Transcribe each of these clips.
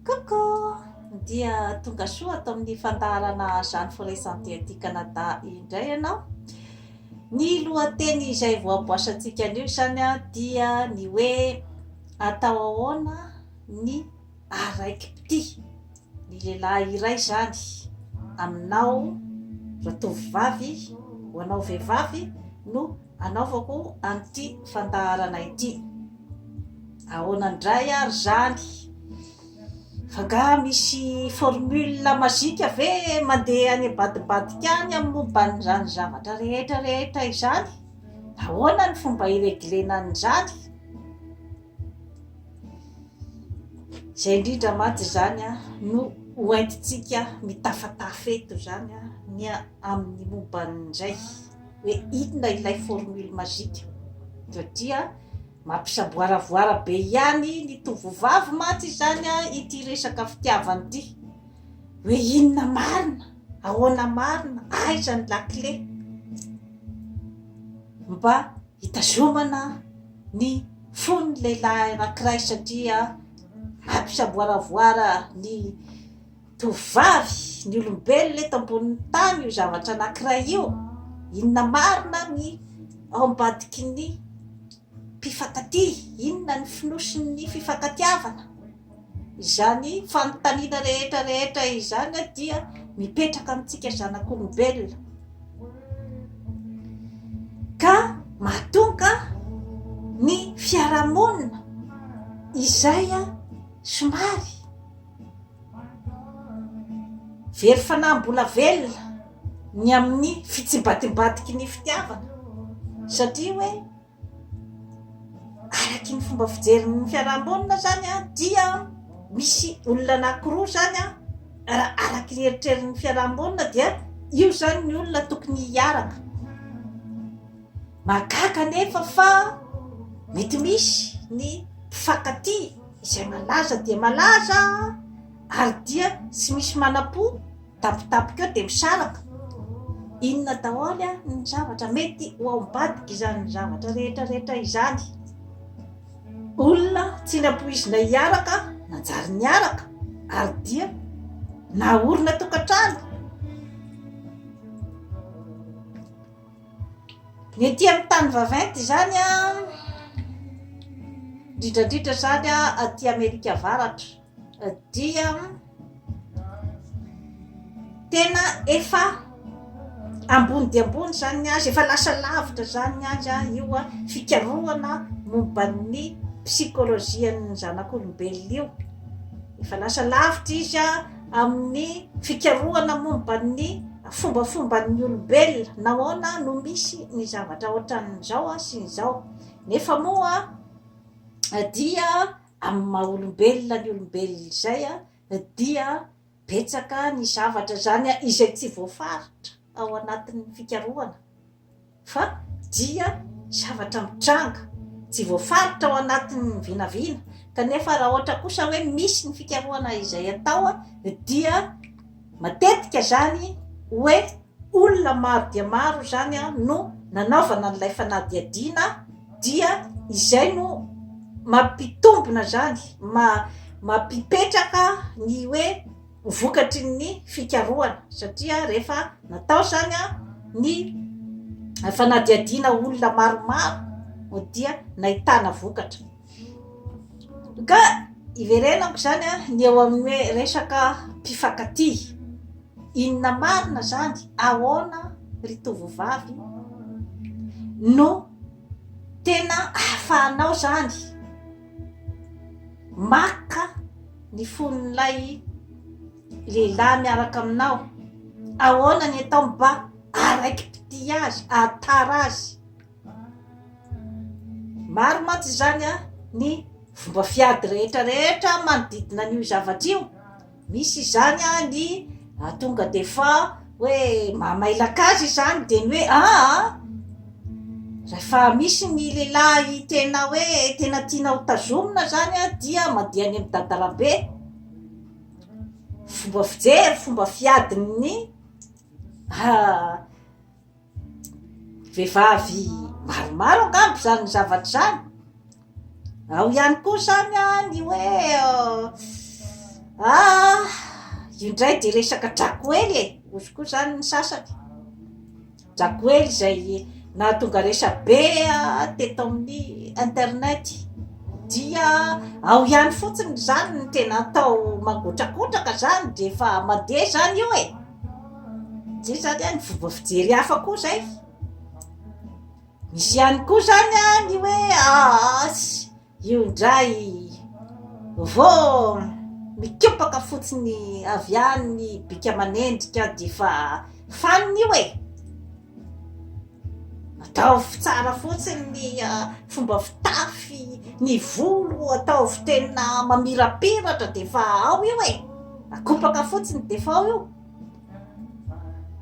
Coucou! Dia tonga soa ato amin'ny fandaharana Jeanne Forêt Santé aty Canada indray ianao. Ny lohateny izay voaboasantsika anio izany dia ny hoe atao ahoana ny araikim-pitia. Ny lehilahy iray izany aminao ratovovavy ho anao vehivavy no Anaovako an'ity fandaharana ity. Ahoana indray ary izany? F'angaha misy formule magique ve mandeha any ambadimbadika any amin'ny momba an'izany zavatra rehetra rehetra izany? Ahoana ny fomba hireglena an'izany? Izay indrindra mantsy izany a, no ho entintsika mitafatafeto izany a, ny amin'ny momba an'izay. hoe inona ilay formule magique satria mampisaboaravoara be ihany ny tovovavy mantsy izany a ity resaka fitiavana ity hoe inona marina ahoana marina aiza ny lakile mba hitazomana ny fony lehilahy anankiray satria mampisaboaravoara ny Tovovavy, ny olombelona eto ambonin'ny tany io zavatra anankiray io, inona marina ny ao ambadiky ny mpifankatia, inona ny fonosin'ny fifankatiavana? Izany fanontaniana rehetra rehetra izany dia mipetraka amintsika zanak'olombelona. Ka mahatonga ny fiarahamonina izay somary Very fanahy mbola velona ny amin'ny fitsimbatimbatiky ny fitiavana satria hoe araky ny fomba fijerin'ny fiarahamonina izany an dia misy olona anankiroa izany an raha araky ny eritrerin'ny fiarahamonina dia io izany ny olona tokony hiaraka mahagaga nefa fa mety misy ny mpifankatia izay malaza dia malaza ary dia tsy misy manam-po tampotampoka eo dia misaraka, inona daholo ary ny zavatra mety ho ao ambadika izany zavatra rehetra rehetra izany, olona tsy nampoizina hiaraka nanjary niaraka ary dia naorina tokantrano. Ny ety amin'ny tany vaventy izany an, indrindra indrindra izany an aty Amerika Avaratra dia tena efa ambony dia ambony izany ny azy, efa lasa lavitra izany ny azy an, io an fikarohana momba ny psikolojian'ny zanak'olombelona io, efa lasa lavitra izy an. Amin'ny fikarohana momba ny fombafomban'ny olombelona, nahoana no misy ny zavatra ohatran'izao sy izao? Nefa moa dia amin'ny maha-olombelona ny olombelona izay dia betsaka ny zavatra izany izay tsy voafaritra ao anatin'ny fikarohana. fa dia zavatra mitranga, tsy voafaritra ao anatin'ny vinavina, kanefa raha ohatra kosa hoe misy ny fikarohana izay atao dia matetika izany hoe olona maro dia maro izany no nanaovana an'ilay fanadihadiana dia izay no mampitombina izany, mampipetraka ny hoe vokatry ny fikarohana satria rehefa natao izany ny fanadihadiana olona maromaro dia nahitana vokatra ka iverenako izany a ny eo amin'ny hoe resaka mpifankatia inona marina izany ahoana ry tovovavy no Tena ahafahanao izany maka ny fon'ilay lehilahy miaraka aminao. Ahoana ny atao mba haraiki-pitia azy, hahatara azy. Maro mantsy izany ny fomba fiady rehetra rehetra manodidina an'io zavatra io. Misy izany a ny tonga de fa hoe mamailaka azy izany de ny hoe aa rehefa misy ny lehilahy tena hoe tena tiana ho tazomina zany a dia mandeha any amin'ny dadalambe fomba fijery fomba fiadin'ny Vehivavy maromaro angamba izany zavatra izany. Ao ihany koa izany ny hoe ah io indray dia resaka drakoely e, hozy koa izany ny sasany. Drakoely izay nahatonga resabe teto amin'ny internet dia ao ihany fotsiny izany ny tena atao mangotrakotraka izany dia efa mandeha izany io e. Zay zany an ny fomba fijery hafa koa zay, misy ihany koa zany an ny hoe aasy io indray vao mikopaka fotsiny avy any ny bika aman'endrika de efa fanina io e! Ataovy tsara fotsiny ny fomba fitafy, ny volo ataovy tena mamirapiratra dia efa ao io e! Akopaka fotsiny dia efa ao io.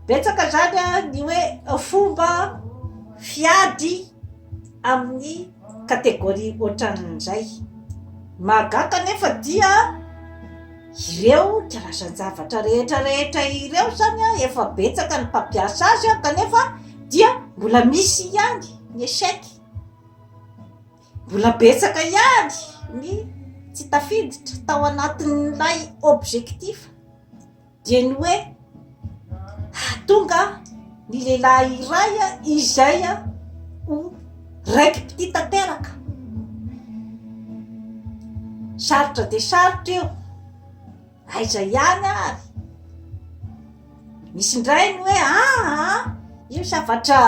Betsaka izany ny hoe fomba fiady. amin'ny catégorie ohatran'izay. Mahagaga anefa dia ireo karazan-javatra rehetra rehetra ireo zany an, efa betsaka ny mpampiasa azy an, kanefa dia mbola misy ihany ny échec, mbola betsaka ihany ny tsy tafiditra tao anatin'ilay objectif. dia ny hoe hahatonga ny lehilahy iray izay ho raiki-pitia tanteraka. Sarotra dia sarotra io, aiza ihany ary? Misy indray ny hoe aa io zavatra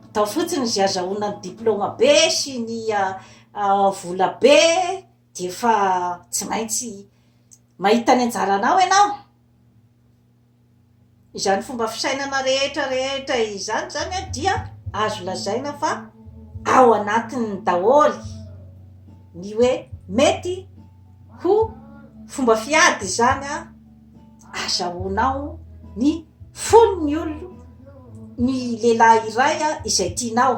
atao fotsiny izay azahoana ny diplaoma be sy ny vola be. Dia efa tsy maintsy mahita ny anjaranao ianao. Izany fomba fisainana rehetra rehetra izany izany dia azo lazaina fa ao anatiny daholo ny hoe mety ho fomba fiady izany Azahoanao ny fon'ny olona ny lehilahy iray izay tianao.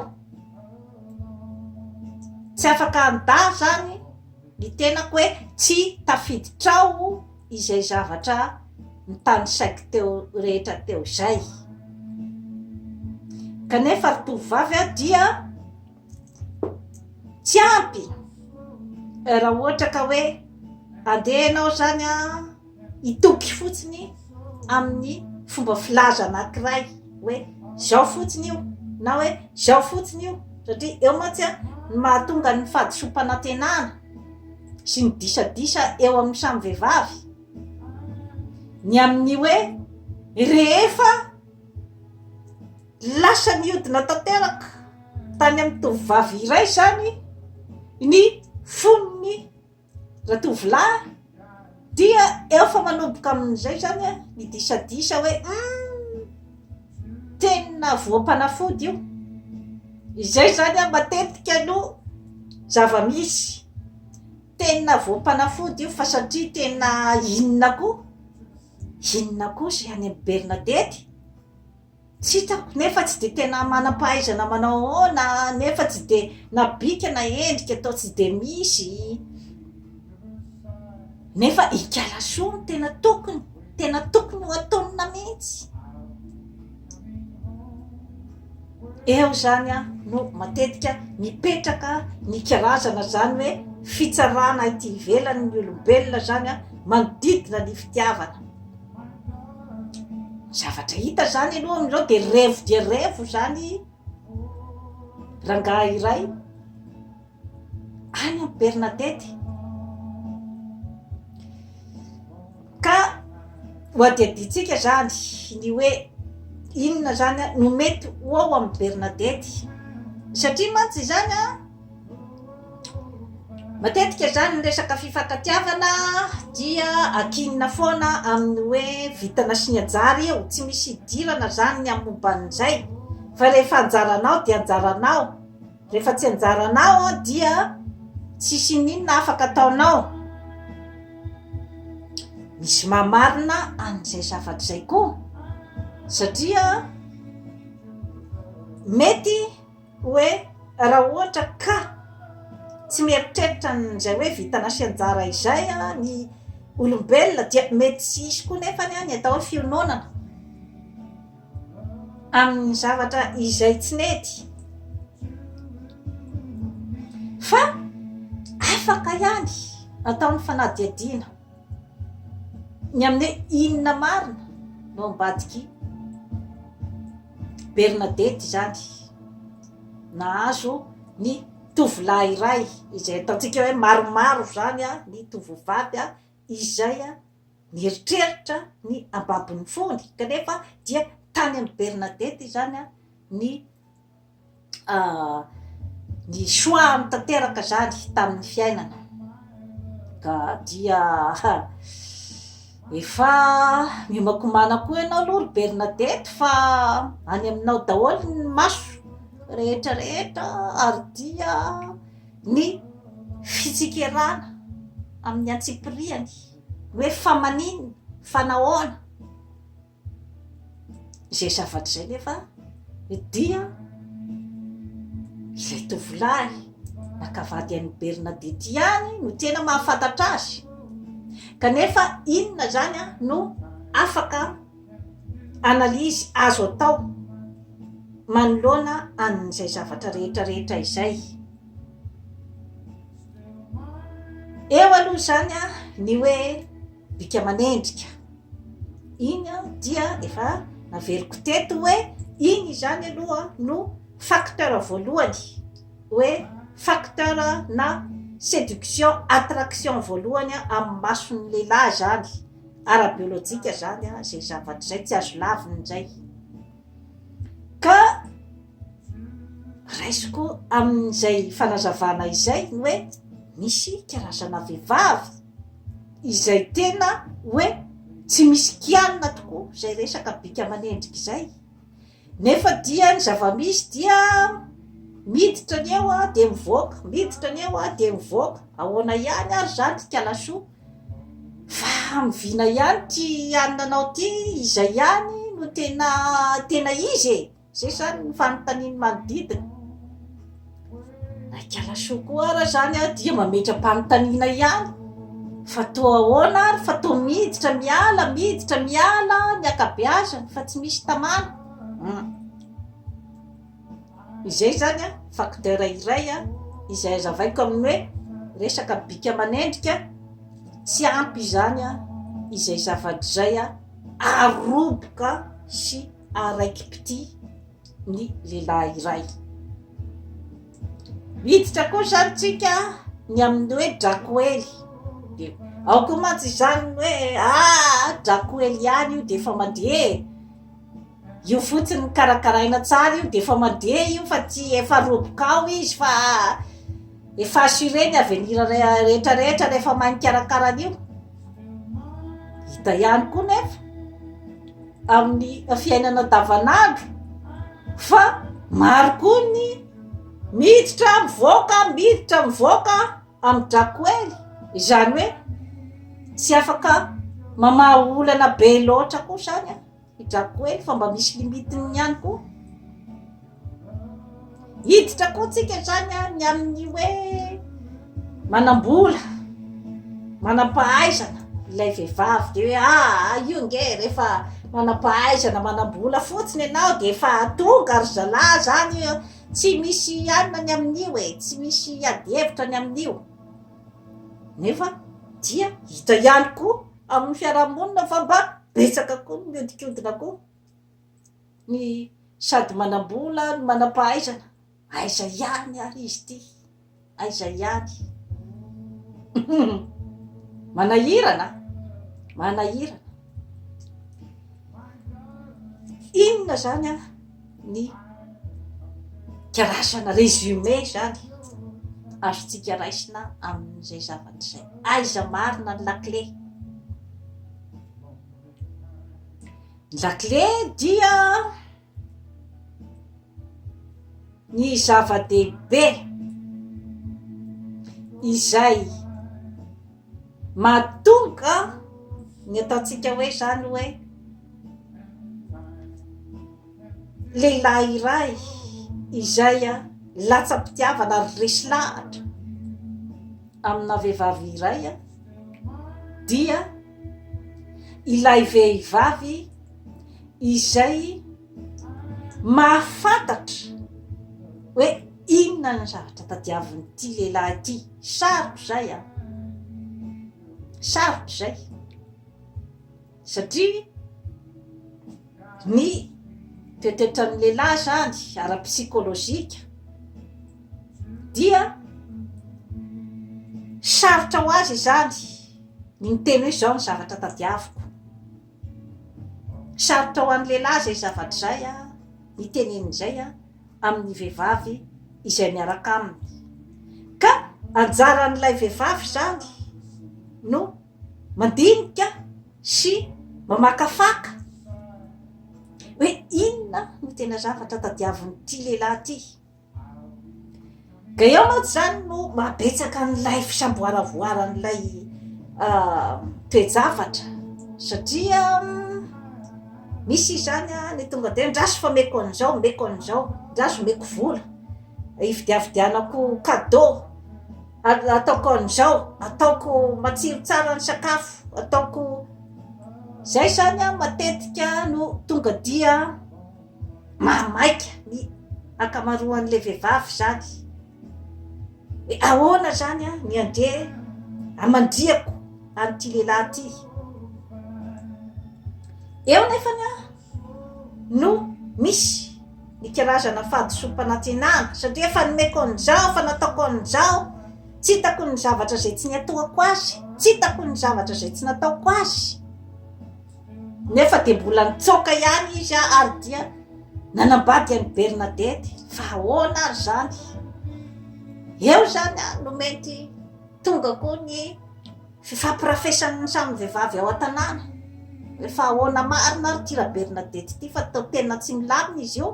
Tsy afaka handà izany ny tenako hoe tsy tafiditrao izay zavatra nitanisaiko teo rehetra teo izay. Kanefa ry tovovavy dia. tsy ampy raha ohatra ka hoe andeha ianao izany an hitoky fotsiny amin'ny fomba filaza anankiray hoe izao fotsiny io na hoe izao fotsiny io satria eo mantsy an ny mahatonga ny fahadisoam-panantenana sy ny disadisa eo amin'ny samy vehivavy ny amin'ny hoe rehefa Lasa nihodina tanteraka tany amin'ny tovovavy iray izany ny fon'ny ratovolahy dia eo fa manomboka amin'izay izany ny disadisa hoe humm tena voam-panafody io, izay izany matetika no zava-misy, tena voam-panafody io fa satria tena inona koa, inona koa izay any amin'ny Bernadette e? Tsy hitako nefa tsy dia tena manam-pahaizana manao ahoana nefa tsy dia na bika na endrika atao tsy dia misy nefa ikala soa no tena tokony tena tokony ho ataonina mihitsy eo zany a no matetika mipetraka ny karazana zany hoe fitsarana ity ivelany ny olombelona zany a manodidina ny fitiavana Zavatra hita izany aloha amin'izao dia revo dia revo izany rangahy iray any amin'ny Bernadette. Ka ho adihadiantsika izany ny hoe inona izany no mety ho ao amin'ny Bernadette. Satria mantsy izany an! Matetika izany ny resaka fifankatiavana dia ankinina foana amin'ny hoe vitana sy ny anjara io, tsy misy hidirana izany ny amin'ny momba an'izay fa rehefa anjaranao dia anjaranao, rehefa tsy anjaranao dia tsisy ininona afaka ataonao. Misy maha marina an'izay zavatra izay koa satria mety. Hoe raha ohatra ka tsy mieritreritra an'izay hoe vintana sy anjara izay ny olombelona dia mety tsy hisy koa nefa ny atao hoe fiononana amin'ny zavatra izay tsy nety fa afaka ihany atao ny fanadihadiana. Ny amin'ny hoe inona marina no ambadik'i Bernadette izany. Nahazo ny tovolahy iray izay ataontsika hoe maromaro izany ny tovovavy izay nieritreritra ny hambabo ny fony kanefa dia tany amin'i Bernadette izany ny ah, ny soa tanteraka zany tamin'ny fiainana ka dia efa miomakomana koa ianao aloha ry Bernadette fa any aminao daholo ny maso rehetra rehetra ary dia ny fitsikerana amin'ny antsipiriany hoe fa manina fa nahoana izay zavatra izay nefa ny dia ilay tovolahy naka vady any Bernadette ihany no tena mahafantatra azy kanefa inona izany an no afaka analyse azo atao manoloana an'izay zavatra rehetra rehetra izay eo aloha izany an ny hoe bika manendrika Iny aho dia efa naveriko teto hoe iny izany aloha no facteur voalohany hoe facteur na séduction attraction voalohany amin'ny mason'ny lehilahy izany ara-biolojika izany izay zavatra izay tsy azo lavina izay ka Raisiko amin'izay fanazavana izay ny hoe misy karazana vehivavy izay tena hoe tsy misy kianina tokoa izay resaka bika aman'endrika izay. Nefa dia ny zava-misy dia miditra ny eo a dia mivoaka, miditra ny eo a dia mivoaka. Ahoana ihany ary izany ry kalasoa? Fa hamoviana ihany ity anona anao ity, izay ihany no tena tena izy e! Zay izany ny fanontanian'ny manodidina. Naikala soa koa ara izany aho dia mametra-panontaniana ihany. Fa toa ahoana ary fa toa miditra miala, miditra miala ny ankabeazany fa tsy misy tamana. Hmm. Izay izany a, facteur iray a, izay hazavaiko amin'ny hoe resaka bika aman'endrika, tsy ampy izany a, izay zavatra izay a, aroboka sy ary raiki-pitia ny lehilahy iray. Miditra koa izany tsika ny amin'ny hoe drakoely. Dia ao koa mantsy izany ny hoe ah drakoely ihany io dia efa mandeha e. Io fotsiny ny karakaraina tsara io dia efa mandeha io fa tsy efa roboka ao izy fa Efa assuré ny avenir rehetra rehetra rehefa mahay mikarakara an'io. Hita ihany koa nefa amin'ny fiainana andavanandro fa maro koa ny miditra mivoaka miditra mivoaka amin'ny drakoely izany hoe tsy afaka mamaha olana be loatra koa izany an. Hidrako hely fa mba misy limite-ny ihany koa. Hiditra koa tsika izany an, ny amin'ny hoe manam-bola, manam-pahaizana, ilay vehivavy dia hoe aa ah, io nge rehefa manam-pahaizana, manam-bola fotsiny ianao dia efa tonga ry zalahy izany io, tsy misy anona ny amin'io e, tsy misy ady hevitra ny amin'io. Nefa dia hita ihany koa amin'ny fiarahamonina fa mba betsaka koa ny mihodinkodina koa ny sady manambola ny manampahaizana aiza ihany ary izy ty aiza ihany manahirana manahirana inona zany a ny karazana résumé izany azontsika raisina amin'izay zavatra izay. Aiza marina ny lakile? Ny lakile dia ny zava-dehibe izay. Mahatonga ny ataontsika hoe izany hoe lehilahy iray izay latsa-pitiavana ary resy lahatra amina vehivavy iray dia ilay vehivavy izay mahafantatra hoe inona ny zavatra tadiavin'ity lehilahy ity, sarotra izay an, sarotra izay satria ny toetoetran'ny lehilahy izany ara-psikolojika dia sarotra ho azy izany ny miteny hoe izao ny zavatra tadiaviko. Sarotra ho an'ny lehilahy izay zavatra izay hiteneniny izay amin'ny vehivavy izay miaraka aminy. Ka anjaran'ilay vehivavy izany no mandinika sy mamakafaka hoe inona no tena zavatra tadiavin'ity lehilahy ity. Dia eo mantsy izany no mahabetsaka an'ilay fisamboaravoaran'ilay ah, toe-javatra satria misy izany a ny tonga dia andraso fa meko an'izao meko an'izao andraso meko vola hividiavidianako cadeau ataoko an'izao ataoko matsiro tsara ny sakafo ataoko izay izany a matetika no tonga dia Maha maika ny ankamaroan'ilay vehivavy izany hoe ahoana izany aho ny andeha hamandrihako an'ity lehilahy ity. Eo nefany aho no misy ny karazana fahadisoam-panantenana satria efa nomeko an'izao, efa nataoko an'izao, tsy hitako ny zavatra izay tsy niatoako azy, tsy hitako ny zavatra izay tsy nataoko azy. Nefa dia mbola nitsaoka ihany izy ary dia nanambady an'i Bernadette. Fa ahoana ary izany? Eo izany no mety tonga koa ny fifampirafesan'ny samy vehivavy ao an-tanàna. Hoe fa ahoana marina ary ity Rabernadette ity fa tena tsy milamina izy io.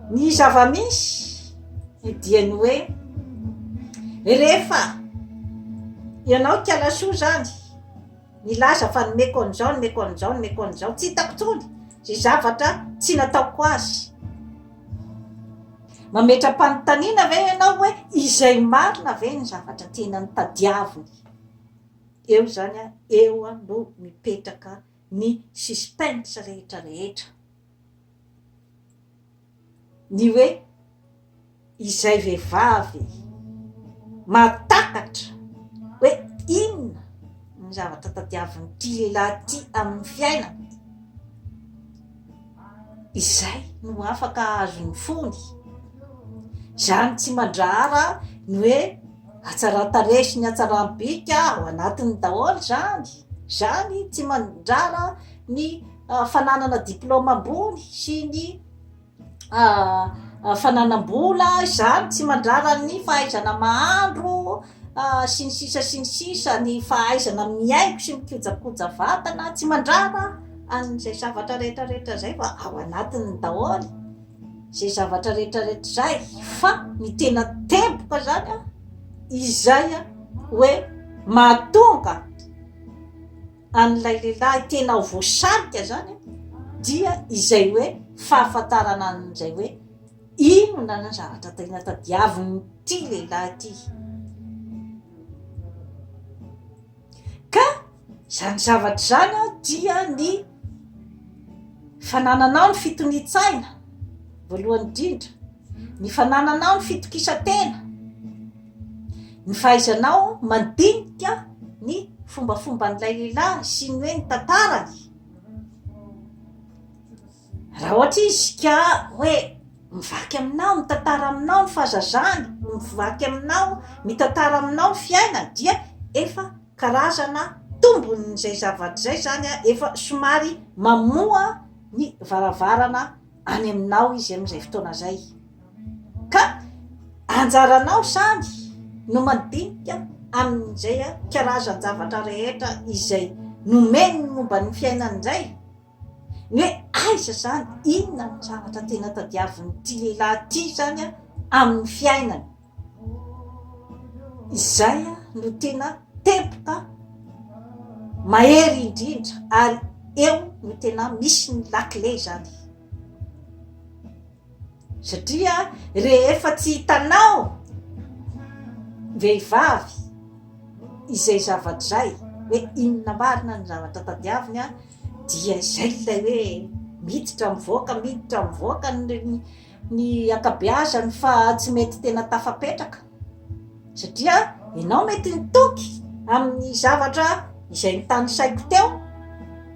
Ny zava-misy dia ny hoe rehefa ianao ikala soa izany milaza fa nomeko an'izao nomeko an'izao nomeko an'izao tsy hitako intsony izay zavatra tsy nataoko azy mametra-panontaniana ve ianao hoe izay marina ve ny zavatra tena notadiaviny eo izany a eo a no mipetraka ny suspens rehetra rehetra ny hoe izay vehivavy mahatakatra hoe inona ny zavatra tadiavin'ity lehilahy ity amin'ny fiainany izay no afaka hahazo ny fony. Izany tsy mandrahara ny hoe hatsaran-tarehy sy ny hatsaram-bika ao anatiny daholo izany. Izany tsy mandrara ny ah, fananana diplaoma ambony sy ny ah, ah, fananam-bola, izany tsy mandrara ny fahaizana mahandro, sy ny sisa sy ny sisa ny fahaizana mihaingo sy mikojakoja vatana tsy mandrara an'izay zavatra rehetra rehetra izay fa ao anatiny daholo izay zavatra rehetra rehetra izay fa ny tena tempoka izany a izay a hoe mahatonga an'ilay lehilahy tena ho voasarika izany dia izay hoe fahafantarana an'izay hoe Inona ny zavatra tena tadiavin'ity lehilahy ity? Ka izany zavatra izany dia ny fanananao ny fitonian-tsaina, voalohany indrindra, ny fanananao ny fitokisan-tena, ny fahaizanao mandinika ny fombafomban'ilay lehilahy sy ny hoe ny tantarany. Raha ohatra izy ka hoe mivaky aminao, mitantara aminao ny fahazazany, mivaky aminao, mitantara aminao ny fiainany dia efa karazana tombon'izay zavatra izay izany an, efa somary mamoha ny varavarana any aminao izy amin'izay fotoana izay, ka anjaranao izany no mandinika amin'izay karazan-javatra rehetra izay nomeny momba ny fiainany izay. Ny hoe aiza izany? Inona no zavatra tena tadiavin'ity lehilahy ity izany amin'ny fiainany? Izay no tena teboka mahery indrindra ary eo no tena misy ny lakile izany. Satria rehefa tsy hitanao vehivavy izay zavatra izay hoe inona marina ny zavatra tadiaviny dia izay ilay hoe miditra mivoaka miditra mivoaka ny ny ankabeazany fa tsy mety tena tafapetraka. Satria ianao mety nitoky amin'ny zavatra izay nitanisaiko teo,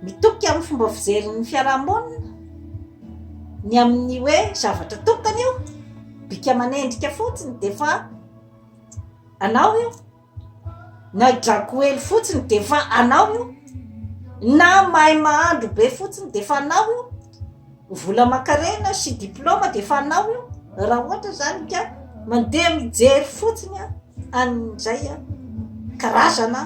mitoky amin'ny fomba fijerin'ny fiarahamonina, ny amin'ny hoe zavatra tokana io, bika aman'endrika fotsiny dia efa anao io, na drakoely fotsiny dia efa anao io, na mahay mahandro be fotsiny dia efa anao io. Vola aman-karena sy diplaoma dia efa anao io raha ohatra izany ka mandeha mijery fotsiny an'izay karazana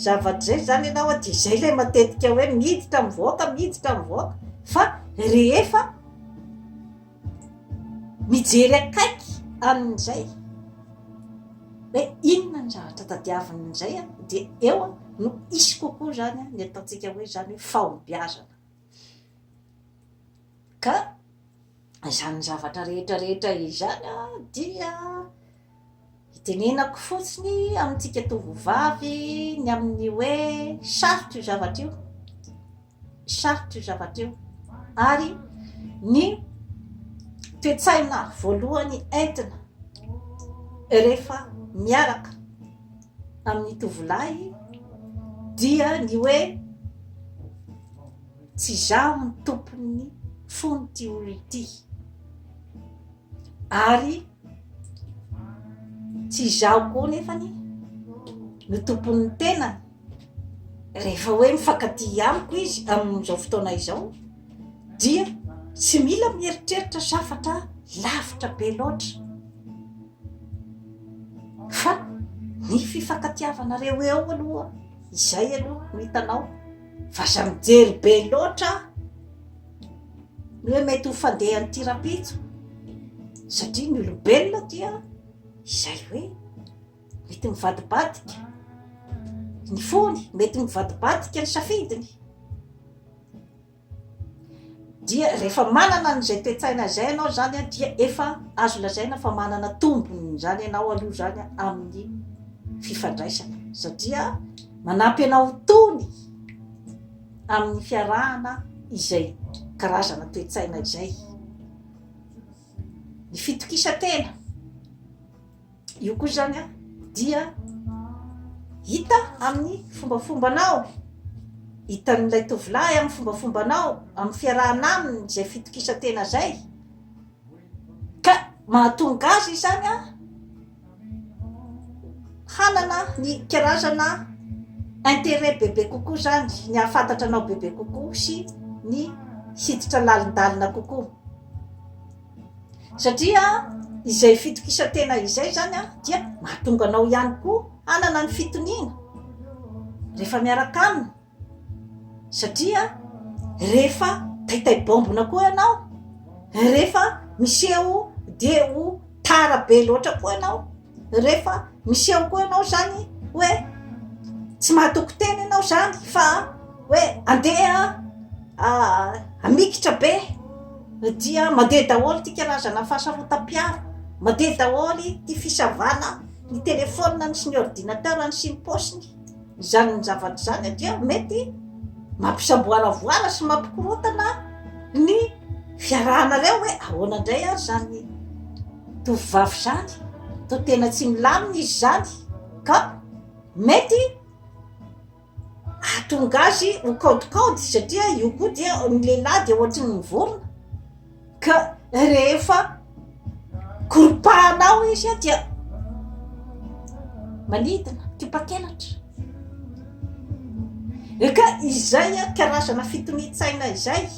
zava-dizay izany ianao dia izay ilay matetika hoe miditra mivoaka miditra mivoaka fa rehefa mijery akaiky an'izay hoe inona ny zavatra tadiavin'izay dia eo no hisy kokoa izany ny ataontsika hoe izany hoe fahombiazana. Ka izany zavatra rehetra rehetra izany dia itenenako fotsiny amintsika tovovavy ny amin'ny hoe sarotra io zavatra io, sarotra io zavatra io ary ny toe-tsaina voalohany entina rehefa miaraka amin'ny tovolahy dia ny hoe tsy izaho ny tompon'ny fon'ity olona ity ary tsy izaho koa nefany no tompon'ny tenany rehefa hoe mifankaty amiko izy amin'izao fotoana izao dia tsy mila mieritreritra zafatra lavitra be loatra Fa ny fifankatiavanareo eo aloha izay aloha no hitanao fa aza mijery be loatra ny hoe mety ho fandehan'ity rahampitso satria ny olombelona dia izay hoe mety mivadibadika ny fony mety mivadibadika ny safidiny Dia rehefa manana an'izay toe-tsaina izay ianao izany dia efa azo lazaina fa manana tombony izany ianao aloha izany amin'ny fifandraisana satria manampy anao tony amin'ny fiarahana izay karazana toe-tsaina izay. Ny fitokisantena. Io koa izany a dia hita amin'ny fombafombanao, hitan'ilay tovolahy amin'ny fombafombanao, amin'ny fiarahana aminy izay fitokisan-tena izay, ka mahatonga azy izany a hanana ny karazana intérêt bebe kokoa izany, ny hahafantatra anao bebe kokoa sy ny hiditra lalindalina kokoa. Satria izay fitokisan-tena izay izany dia mahatonga anao ihany koa hanana ny fitoniana rehefa miaraka aminy satria rehefa taitaibaombina koa ianao rehefa miseho dia ho tara be loatra koa ianao rehefa miseho koa ianao zany hoe tsy mahatoky tena ianao zany fa hoe andeha ah, amikitra be dia mandeha daholo ty karazana fahasarotam-piaro mandeha daholo ty fisavana ny telefoniny sy ny ordinateurny sy ny paosiny Izany zavatra izany dia mety mampisamboaravoara sy mampikorontana ny fiarahanareo hoe ahoana indray ary izany tovovavy izany, toa tena tsy milamina izy izany ka mety hahatonga azy ho kaodikaody satria io koa dia ny lehilahy dia ohatry ny vorona. ka rehefa koropahanao izy dia manidina tipa-kelatra ka izay karazana fitonian-tsaina izay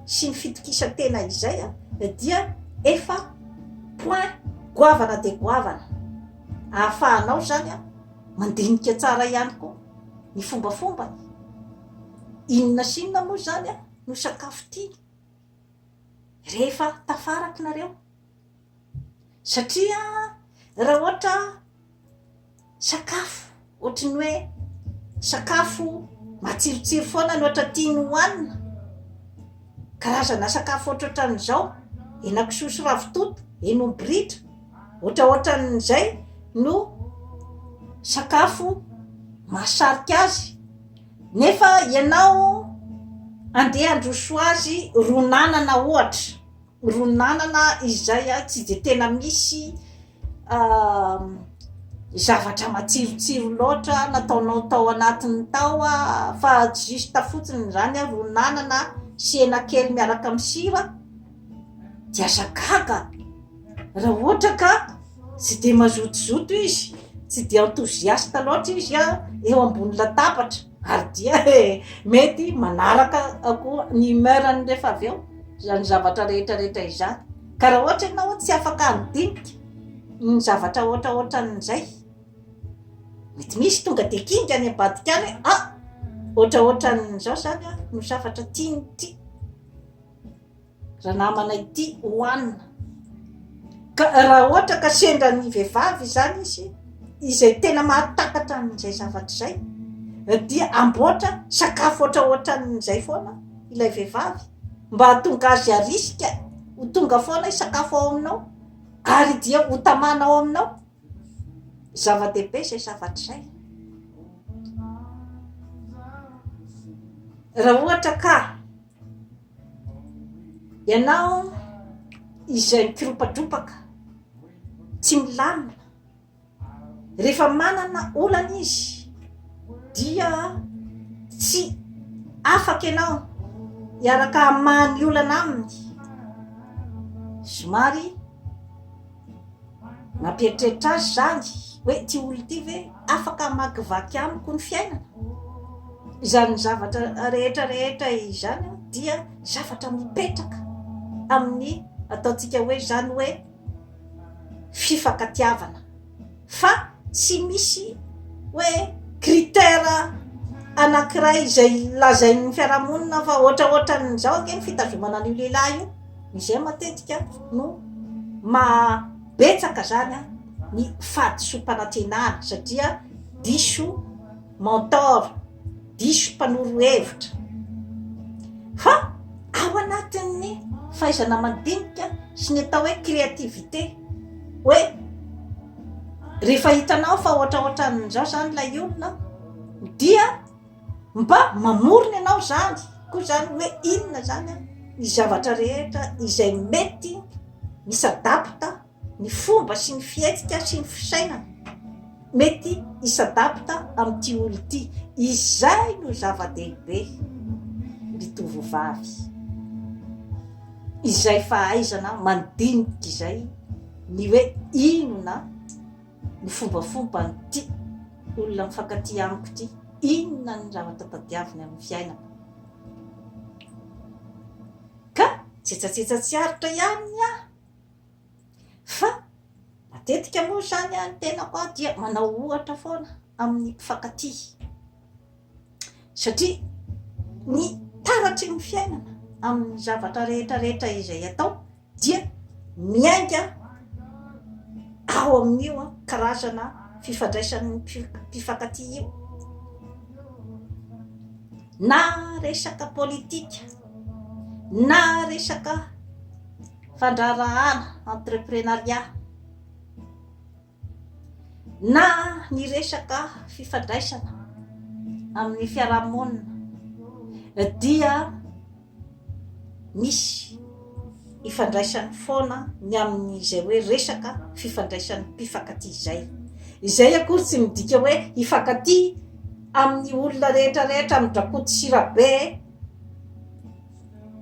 sy ny fitokisan-tena izay dia efa point goavana dia goavana ahafahanao izany an mandinika tsara ihany koa ny fombafombany inona sy inona moa izany an no sakafo tiany rehefa tafarako nareo satria raha ohatra sakafo ohatry ny hoe sakafo matsirotsiro foana ny ohatra tiany hohanina karazana sakafo ohatrohatran'izao henakisoa sy ravitoto henomby ritra ohatraohatran'izay no sakafo mahasarika azy Nefa ianao andeha handroso azy ron'anana ohatra, ron'anana izay tsy dia tena misy zavatra matsirotsiro loatra nataonao tao anatiny tao fa juste fotsiny izany ron'anana sy hena kely miaraka amin'ny sira de aza gaga raha ohatra ka tsy de mazotozoto izy tsy de enthousiaste loatra izy a eo ambony latabatra ary dia e mety manaraka koa ny humeur ny rehefa avy eo zany zavatra rehetra rehetra izany ka raha ohatra ianao tsy afaka ny dinika ny zavatra ohatra ohatra an'izay mety misy tonga de kinga any ambadika any hoe ah ohatra ohatra an'izao zany a no zavatra tiany ity Ranamana ity hohanina. Ka raha ohatra ka sendra ny vehivavy izany izy izay tena mahatakatra an'izay zavatra izay dia amboatra sakafo ohatra ohatran'izay foana ilay vehivavy mba hahatonga azy arisika ho tonga foana sakafo ao aminao ary dia ho tamana ao aminao. Zava-dehibe izay zavatra izay. Raha ohatra ka Ianao izay mikiropadropaka, tsy milamina, rehefa manana olana izy dia tsy afaka ianao hiaraka hamaha ny olana aminy. Zomary. Nampieritreritra azy izany hoe ity olona ity ve afaka hamakivaky amiko ny fiainana? Izany zavatra rehetra rehetra izany dia zavatra mipetraka amin'ny ataontsika hoe izany hoe fifankatiavana. Fa tsy misy hoe critère anankiray izay lazain'ny fiarahamonina fa ohatraohatran'izao ange ny fitazomana an'io lehilahy io, izay matetika no maha betsaka izany ny fahadisoam-panantenana satria diso mentor, diso mpanoro hevitra. Fa ao anatin'ny fahaizana mandinika sy ny atao hoe créativité. hoe rehefa hitanao fa ohatraohatran'izao izany ilay olona dia mba mamorona ianao izany koa izany hoe inona izany an ny zavatra rehetra izay mety misadapta ny fomba sy ny fihetsika sy ny fisainana Mety hi-s'adapte amin'ity olona ity. Izay no zava-dehibe. Ny tovovavy. Izay fahaizana mandinika izay ny hoe inona ny fombafomban'ity olona mifankatia amiko ity, inona ny zavatra tadiaviny amin'ny fiainana. Ka, tsetsatsetsa tsy aritra ihany ny ahy. Fa matetika moa izany ny tenako aho dia manao ohatra foana amin'ny mpifankatia. Satria ny taratry ny fiainana amin'ny zavatra rehetra rehetra izay atao dia miainga ao amin'io karazana fifandraisan'ny mpifankatia io. Na resaka politika, na resaka. fandraharahana, entreprenariat, na ny resaka fifandraisana amin'ny fiarahamonina dia misy ifandraisany foana ny amin'izay hoe resaka fifandraisan'ny mpifankatia izay. Izay akory tsy midika hoe hifankatia amin'ny olona rehetra rehetra, amin'ny drakoto sy rabe,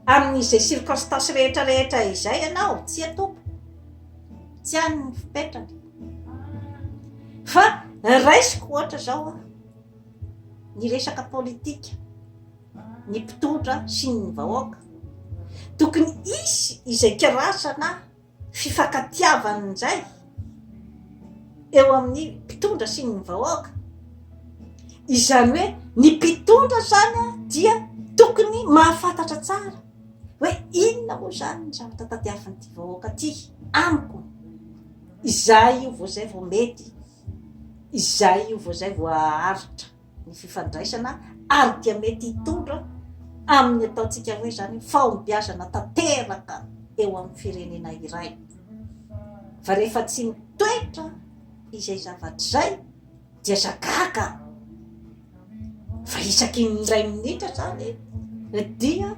Amin'izay circonstance rehetra rehetra izay ianao, tsia Tompo, tsy any ny fipetrany. Fa raisiko ohatra izao aho, ny resaka politika, ny mpitondra sy ny vahoaka. Tokony hisy izay karazana fifankatiavana indray eo amin'ny mpitondra sy ny vahoaka, izany hoe ny mpitondra izany dia tokony mahafantatra tsara hoe inona moa izany ny zavatra tadiavin'ity vahoaka ity amiko, izay io vao izay vao mety, izay io vao izay vao haharitra. ny fifandraisana ary dia mety hitondra amin'ny ataontsika hoe izany fahombiazana tanteraka eo amin'ny firenena iray. Fa rehefa tsy mitoetra izay zavatra izay dia zagaga. Fa isaky ny iray minitra izany dia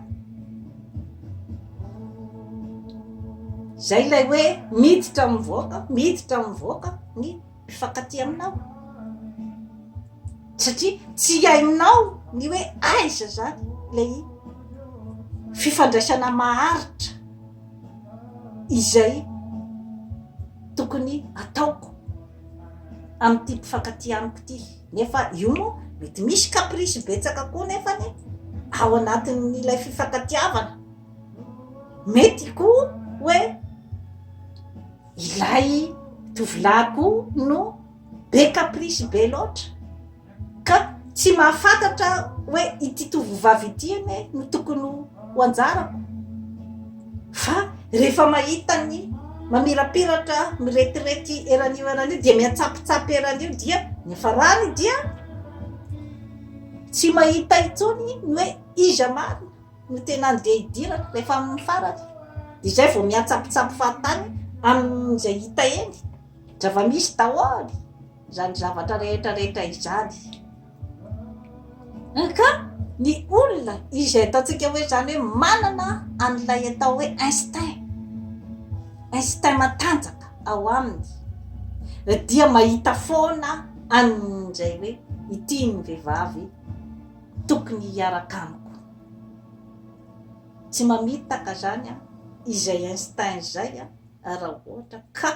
izay ilay hoe miditra mivoaka, miditra mivoaka ny mpifankatia aminao satria tsy hainao ny hoe aiza zany lay fifandraisana maharitra izay tokony ataoko am'ity mpifankatia amiko ty nefa io moa mety misy caprice betsaka koa nefany ao anatin'n'ilay fifankatiavana mety koa hoe Ilay tovolahy koa no be caprice be loatra ka tsy mahafantatra hoe ity tovovavy ity anie no tokony ho anjarako fa rehefa mahita ny mamirapiratra miretirety eran'io eran'io dia mihatsapotsapy eran'io dia ny farany dia tsy mahita intsony ny hoe iza marina no tena andeha hidirana, rehefa amin'ny farany dia izay vao miantsampitsampy fahatany amin'izay hita eny, zava-misy daholo izany zavatra rehetra rehetra izany ka ny olona izay ataontsika hoe izany hoe manana an'ilay atao hoe instinct, instinct matanjaka ao aminy dia mahita foana an'izay hoe ity ny vehivavy Tokony hiaraka amiko. Tsy mamitaka zany an izay instinct izay an raha ohatra ka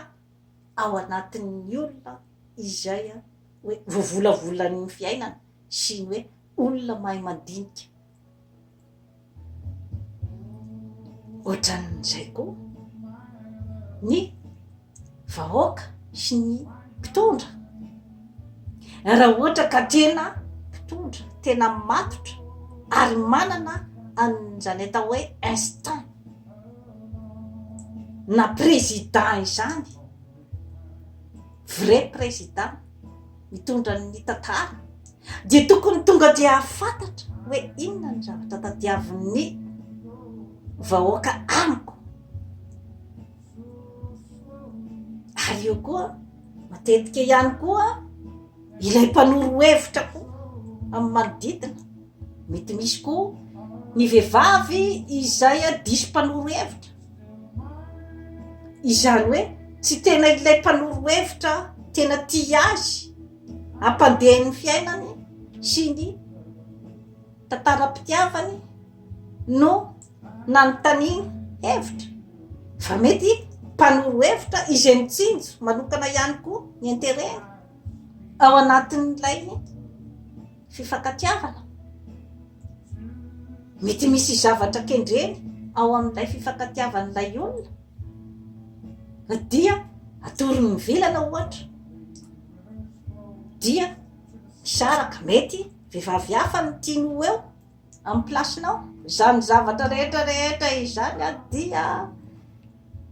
ao anatin'ny olona izay an hoe vovolavolan'ny fiainana sy ny hoe olona mahay mandinika. Ohatran'izay koa ny vahoaka sy ny mpitondra. Raha ohatra ka tena mpitondra, tena matotra ary manana an'izany atao hoe instinct na président izany, vrai président. mitondra ny tantara dia tokony tonga dia hafantatra hoe inona ny zavatra tadiavin'ny vahoaka amiko ary eo koa matetika ihany koa ilay mpanoro hevitra koa amin'ny manodidina mety misy koa ny vehivavy izay a diso mpanoro hevitra Izany hoe tsy tena ilay mpanoro hevitra tena tia azy hampandeha ny fiainany sy ny tantaram-pitiavany no nanontaniana hevitra fa mety mpanoro hevitra izay mitsinjo manokana ihany koa ny intereny ao anatin'ilay fifankatiavana. Mety misy zavatra kendreny ao amin'ilay fifankatiavan'ilay olona na dia atorony ny vilana ohatra dia misaraka mety vehivavy hafa no tiany ho eo amin'ny place-nao. Izany zavatra rehetra rehetra izany dia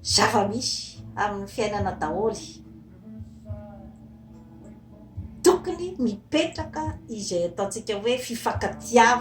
zava-misy amin'ny fiainana daholo. Tokony mipetraka izay ataontsika hoe fifankatiavana.